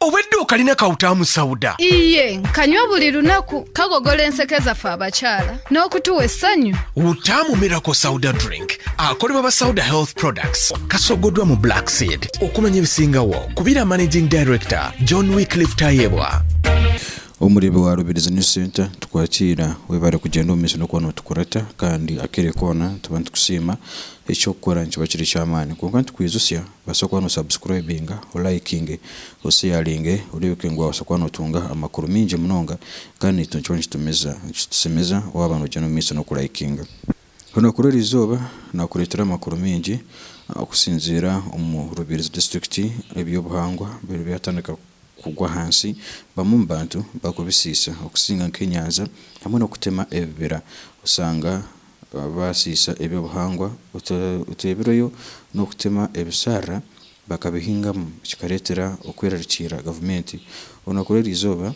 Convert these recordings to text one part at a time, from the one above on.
Obu eduuka riine akawuta aha musauda. Iye, nkanywa buri runaku. Kagogora enseko eza fa abakyara n'okutuwa esanyu. Wutamu Miracle Sauda Drink ahakorebwa aba Sauda Health Products. Kasogodwa mu Black Seed. Okumanya ebisingawo, kubira Managing Director John Wycliffe Tayebwa. Omureebi wa Rubirizi News Centre tukwakiira webare kugyenda omumaisho nokuba notukurata kandi akere koona tuba nitukusiima, ekyokukora nikiba kiri ekyamaani kwonka nitukwijutsya Obaasa kuba no subscribinga, o likinge, o sharinge, oribuke ngu waabaasa kuba notunga amakuru maingi munonga kandi nikyo nikiba nikitumiza nikitushemeza waaba nogyenda omu maiso n'oku likinga. Orunaku rw'eri izooba naakureetera amakuru maingi okusinziira omu Rubirizi district eby'obuhangwa biri byatandika kugwa ahansi bamwe omu bantu bakubisiisa okusinga nk'enyanja hamwe n'okutema ebibira oshanga baasiisa eby'obuhangwa otureebireyo n'okutema ebisharara bakabihingamu kikareetera okwerariikirira gavumenti. Orunaku rw'eri izooba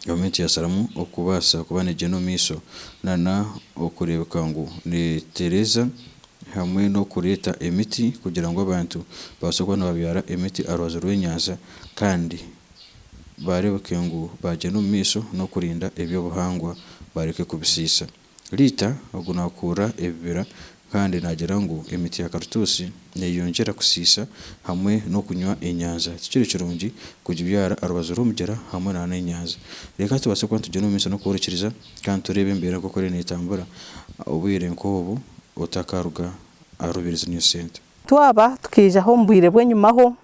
gavumenti yaasharamu okubaasa kuba neegyenda omu maisho nana okureebeka ngu neetereeza hamwe n'okureeta emiti kugira ngu abantu babaase kuba nibabyara emiti aha rubaju rw'enyanja kandi baareebeke ngu baagyenda omu maisho n'okurinda eby'obuhangwa bareke kubisiisa. Rita, ogu naakuurira ebibira kandi naagira ngu emiti ya karutuusi neeyongyera kusiisa hamwe n'okunywa enyanja. Tikiri kirungi kugibyara aha rubaju rw'omugyera hamwe n'enyanja. Reka tubaase kuba nitugyenda omu maisho n'okworikiriza kandi tureebe embeera nk'oku eriyo neetambura obwire nk'obu otakaaruga aha rubirizi niyo sente. Twaba tukaijaho omu bwire bw'enyimaho,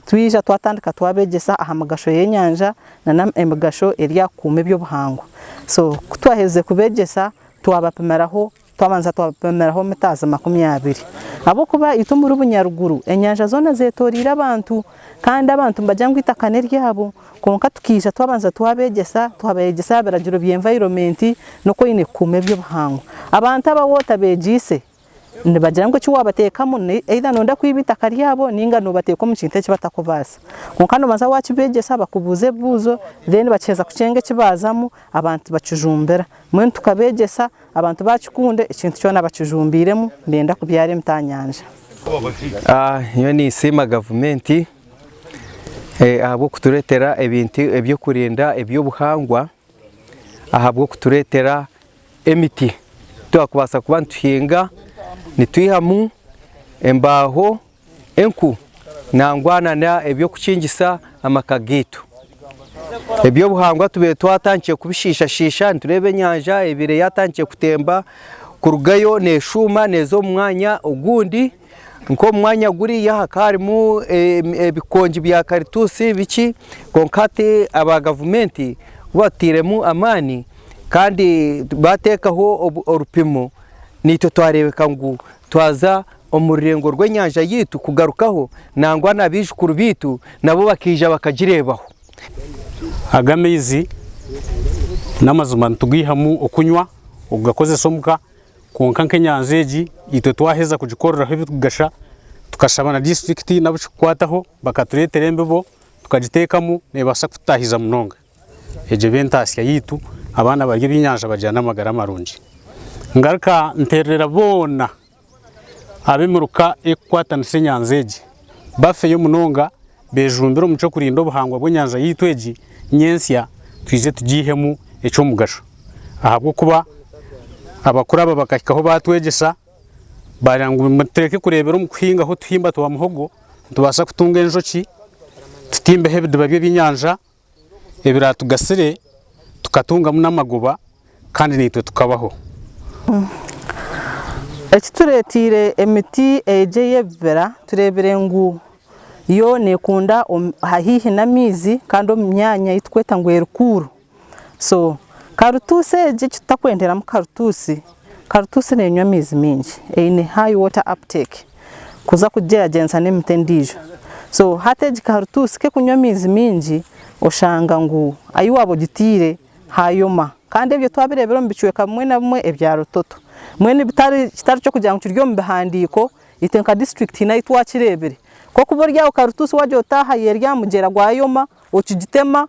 Twija twatandika twabegyesa aha migasho y'enyanja na n'emigasho eri aha kukuuma eby'obuhangwa. So ku twaherize kubegyesa twabapimiraho, twabanza twabapimiraho mitaazi makumi abiri. Ahabw'okuba itwe omuri Bunyaruguru enyanja zoona zeetoreire abantu kandi abantu nibagira ngu eitaka n'eryabo kwonka tukaija twabanza twabegyesa, twabeegyesa aha biragiro bya environment n'oku oine kukuuma eby'obuhangwa. Abantu aba waaba otabegyeise, Nibagira ngu eki waabateekamu either nooyenda kwiba eitaka ryabo nainga noobateeka omu kintu eki batakubaasa. Kwonka noobanza waakibeegyesa bakubuuze ebibuuzo then bakiheza kukyenga eki baazamu abantu bakijumbira. Mbwenu tukabeegyesa abantu baakikunda ekintu kyona bakijumbiiremu nibenda kubyara emiti aha nyanja. Nyowe ninsiima gavumenti ahabw'okutureetera ebintu eby'okurinda eby'obuhangwa, ahabw'okutureetera emiti twakubaasa kuba nituhinga nitwihamu embaaho, enku nangwa nana eby'okukingisa amaka gaitu. Eby'obuhangwa tubaire twatandikire kubishiishashiisha nitureeba enyanja ebaire yatandikire kutemba kurugayo neshuuma neeza omu mwanya ogundi. Nk'omu mwanya guriya hakaarimu ebikongi bya karituusi bikye, kwonka hati aba gavumenti ku batutairemu amaani kandi baateekaho orupimo, naitwe twareebeka ngu twaza omu rurengo rw'enyanja yaitu kugarukaho nangwa na baijukuru baitu nabo bakaija bakagireebaho. Aga amaizi n'amazima nitugaihamu okunywa, okugakozesa omu ka. Kwonka nk'enyanja egi itwe twaheza kugikoreraho ebirikugasha, tukashaba na disiturikiti n'abu kikukwataho bakatureetera embibo tukagiteekamu neebaasa kututaahiza munonga. Egyo eba entaasya yaitu, abaana barya ebyenyanja bagira n'amagara marungi. Ngaruka nteererera boona ab'emiruka erikukwatanisa enyanja egi bafeyo munonga bejumbire omu ky'okurinda obuhangwa bw'enyanja yaitu egi ny'ensya twije tugiihemu eky'omugasho ahabw'okuba abakuru aba bakahikaho baatwegyesa baagira ngu mutureke kureebera omu kuhingaho otuhimba twa muhogo nitubaasa kutunga enjoki, tutimbeho ebidiba by'ebyenyanja. ebiraatugasire, tukatungamu n'amagoba kandi naitwe tukabaho. Eki tureeteire emiti egi ey'ebibira tureebire ngu yo neekunda haihi n'amaizi kandi omu myanya ei turikweta ngu eri kuuru. So karutuusi egi eki tutakwenderamu karutuusi, karutuusi neenywa amaizi maingi, eine high water uptake. kuza kugigyeragyenisa n'emiti endiijo. So hati egi ka rutuusi k'ekunywa amaizi maingi oshanga ngu ahi waaba ogitaire haayoma. Kandi ebyo twabireebire omu bicweka bimwe na bimwe ebya Rutoto. Mbwenu bitari kitari ky'okugira ngu kiri omu bihandiiko, itwe nka disiturikiti hiine ahi twakireebire. Kw'okuba ori aho ka rutuusi waagira oti aha y'eri aha mugyera gwa Yoma, okigitema,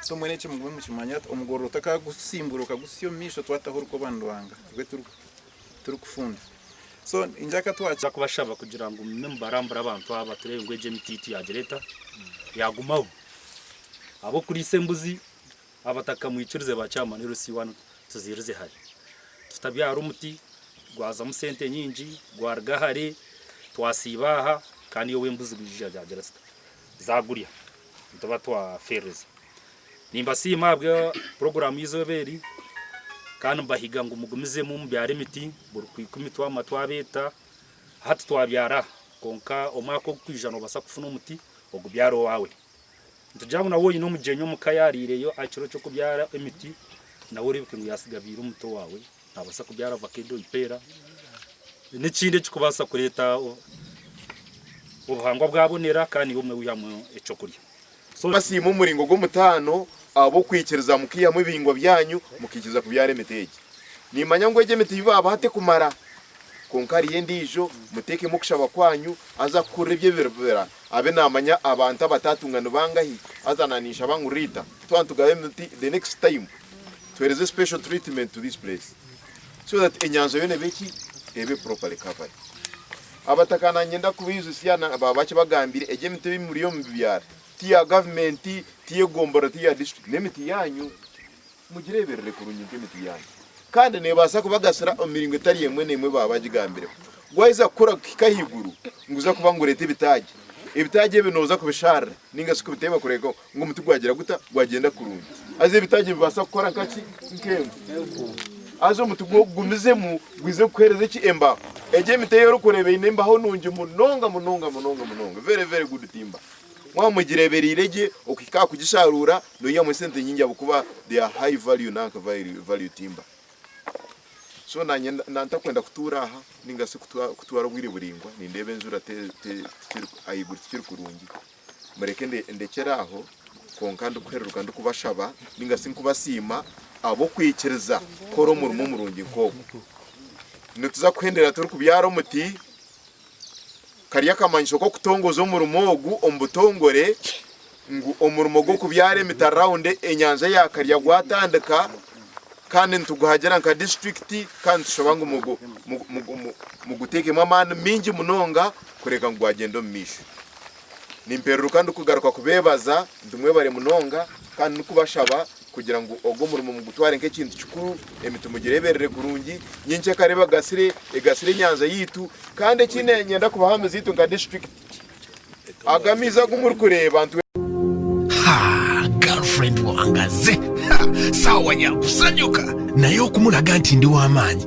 So mbwenu eki mugume mukimanye ati omugorora otakagusimbura okagutsya omu maisho twataho orukoba ni Ruhanga rwe turikufunda. So ningira ka twa. Nza kubashaba kugira ngu mume mubarambure abantu aba turebe ngu egi emiti yitu yagira eta? Yagumaho. Ab'okuriisa embuzi abatakamwikirize ba chairman LC wanu tuziirize hare. Tutabyara omuti gwazamu sente nyingi, gwaruga hare, twasiiba aha kandi iwe ow'embuzi gwijija yagira zita? zagurya nituba twafeereza. Nimbasiima ahabwa puroguraamu y'eizooba eri kandi nimbahiga ngu mugumizemu mubyare emiti buri kwikwa emitwe aha matwe abeeta. Hati twabyara aha kwonka omwaka ogurikwija noobaasa kufuna omuti ogubyare owaawe. Nitugira ngu nawe oine omugyenyi omuka yaariireyo aha kiro ky'okubyara emiti nawe oreebeke ngu yaatsigabeire omuti owaawe. Naabaasa kubyara vakedo, eipeera n'ekindi ekirikubaasa kureeta obuhangwa bwabonera kandi naiwe obumwe weihamu eky'okurya. Basiima omuringo gw'omutaano ahabw'okwikiriza mukaihamu ebihingwa byanyu mukaikiriza kubyara emiti egi. Nimmanya ngu egi emiti ei baabaha tekumara. Kwonka hariyo endiijo, muteekemu okushaba kwanyu, haza kukurira ebyo ebibira abe naamanya abantu abataatunga ni bangahi. Haza naninshaba ngu Rita, twaba nitugabayo emiti the next time, Tuhereze special treatment to this place so that enyanja yoona ebe ki? Ebe properly covered. Abataka nanyenda kubaijusya na baaba bakibagambire egi emiti eyi muriyo mubibyara ti ya government, ti y'egombora, ti ya district, n'emiti yanyu. Mugireberere kurungi nka emiti yanyu kandi nebaasa kubagasira omu miringo etari emwe n'emwe baaba bagigambireho. Gwayeza kukura kuhika ahaiguru niguza kuba nigureeta ebitaagi. Ebitaagi ebi noza kubisharira ninga shi kubiteeba kurekaho Ngu omuti gwagira guta? Gwagyenda kurungi. Haza ebitaagi bibaasa kukora nka ki? Nk'enku. Haza omuti gwo gugumizemu gwize kukuheereza eki? Embaho. Egi emiti ei orikureeba eine embaho nungi munonga munonga munonga munonga, very very good timber. Mwaba mugireebereire gye okuhika aha kugisharuura noihamu esente nyingi ahabw'okuba they are high value nanka value timber. So naanye nda ntakwenda kutuura aha nainga shi kutwara obwire buraingwa nindeeba enjura te te ahaiguru tikiri kurungi. Mureke ndekyere aho, kwonka ndikuhereruka ndikubashaba ninga shi nkubasiima ahabw'okwikiriza kukora omurimo omurungi nk'ogu. Nituza kuhendera turikubyara omuti, kari akamanyiso k'okutongoza omurimo ogu omu butongore ngu omurimo gw'okubyara emiti around enyanja ya Karya gwatandika kandi nituguhagira nka disiturikiti kandi nitushaba ngu muguteekemu amaani maingi munonga kureka ngu gwagyenda omu maisho. Nimpereruka ndikugaruka kubeebaza ndi mwebare munonga kandi ndikubashaba kugira ngu ogu omurimo mugutware nk'ekintu kikuru, emiti mugireeberere kurungi. Nyowe nkyeka reero ebagasire, egasire enyanja yaitu. Kandi eki niinyenda kubaha amiizi gaitu nka disiturikiti, aga amaizi agu murikureeba nitwe. Ha, girlfriend wange aze, ha, saawa ya kusanyuka, naye okumuraga nti ndi w'amaani.